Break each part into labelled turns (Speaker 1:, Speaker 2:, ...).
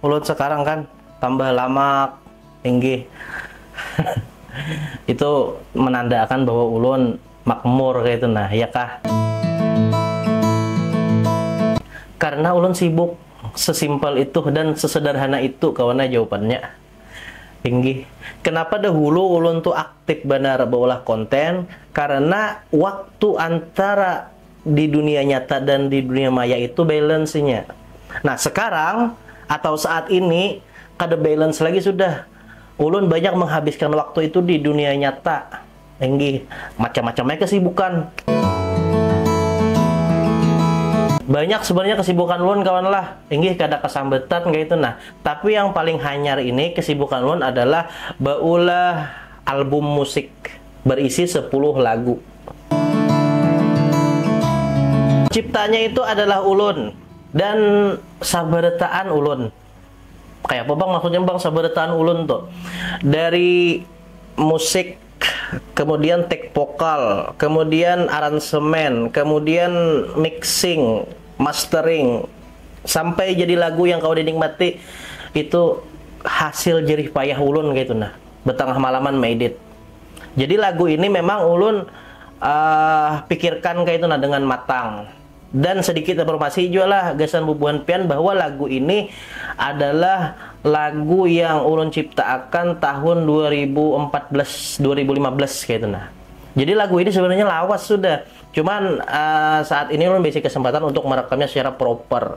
Speaker 1: Kulit sekarang kan tambah lamak, inggih. Itu menandakan bahwa ulun makmur kaitu nah, ya kah? Karena ulun sibuk, sesimpel itu dan sesederhana itu kawan ai jawabannya. Inggih. Kenapa dahulu ulun tu aktif banar baulah konten, karena waktu antara. di dunia nyata dan di dunia maya itu balance-nya. Nah, sekarang atau saat ini kada balance lagi sudah. Ulun banyak menghabiskan waktu itu di dunia nyata. Inggih, macam-macam ai kesibukan. Banyak sebenarnya kesibukan ulun kawan lah. Inggih kada kesambatan kaya itu nah. Tapi yang paling hanyar ini kesibukan ulun adalah baulah album musik. berisi sepuluh lagu. Ciptanya itu adalah ulun dan sabarataan ulun. Kaya apa bang maksudnya bang sabarataan ulun tu? Dari musik, kemudian take vokal, kemudian aransemen, kemudian mixing, mastering, sampai jadi lagu yang kawa dinikmati itu hasil jerih payah ulun kaytu nah. betangah malaman meidit jadi lagu ini memang ulun uh, pikirkan kayak itu nah dengan matang dan sedikit informasi juga lah gasan bubuhan pian bahwa lagu ini adalah lagu yang ulun ciptakan tahun 2014 2015 kayak itu nah jadi lagu ini sebenarnya lawas sudah. Cuman uh, saat ini ulun basic kesempatan untuk merekamnya secara proper.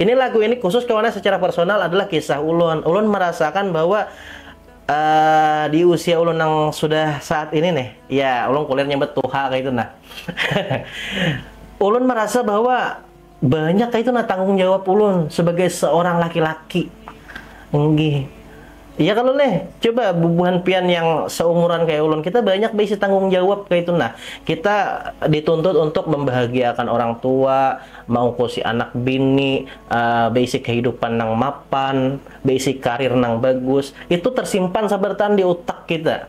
Speaker 1: Ini lagu ini khusus karena secara personal adalah kisah ulun. Ulun merasakan bahwa uh, di usia ulun yang sudah saat ini nih, ya ulun kuliah nyebut tuha kayak itu nah. ulun merasa bahwa banyak kayak itu nah tanggung jawab ulun sebagai seorang laki-laki. Enggih. Iya kalo leh, coba bubuhan pian yang seumuran kaya ulun, kita banyak baisi tanggung jawab kaitu nah. Kita dituntut untuk membahagiaakan orang tua, maungkusi anak bini, baisi kehidupan nang mapan, baisi karir nang bagus, itu tersimpan sabartaan di utak kita.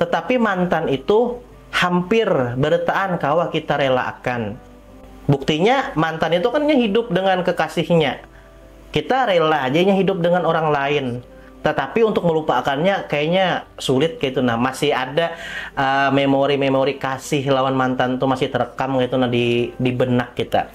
Speaker 1: Tetapi mantan itu hampir beretaan kawa kita relaakan. Buktinya mantan itu kan inya hidup dengan kekasihnya. Kita rela aja inya hidup dengan orang lain. Tetapi untuk melupaakannya kayaknya sulit kaytu nah. Masih ada memori-memori kasih lawan mantan tu masih terekam kaytu nah di di benak kita.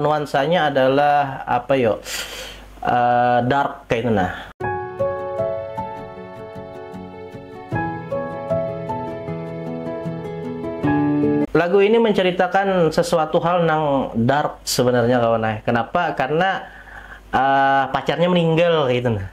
Speaker 1: nuansanya adalah apa yo dark kaitu nah. Lagu ini menceritakan sesuatu hal nang dark sebenarnya kawan ai, kenapa karena pacarnya meninggal kaitu nah.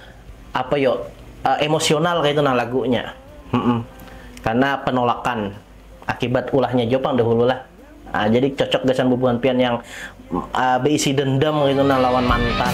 Speaker 1: apa yo uh, emosional kayak itu nah lagunya mm -mm. karena penolakan akibat ulahnya Jopang dahulu lah uh, jadi cocok gasan bubuhan pian yang uh, beisi dendam kayak itu nah lawan mantan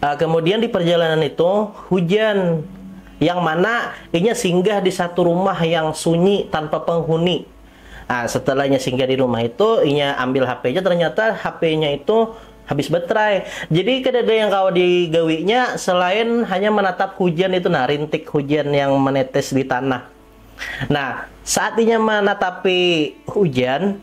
Speaker 1: uh, kemudian di perjalanan itu hujan yang mana inya singgah di satu rumah yang sunyi tanpa penghuni. Nah, setelahnya singgah di rumah itu, inya ambil HP-nya, ternyata HP-nya itu habis baterai. Jadi kada ada yang kawa digawinya selain hanya menatap hujan itu, nah rintik hujan yang menetes di tanah. Nah, saat inya menatapi hujan,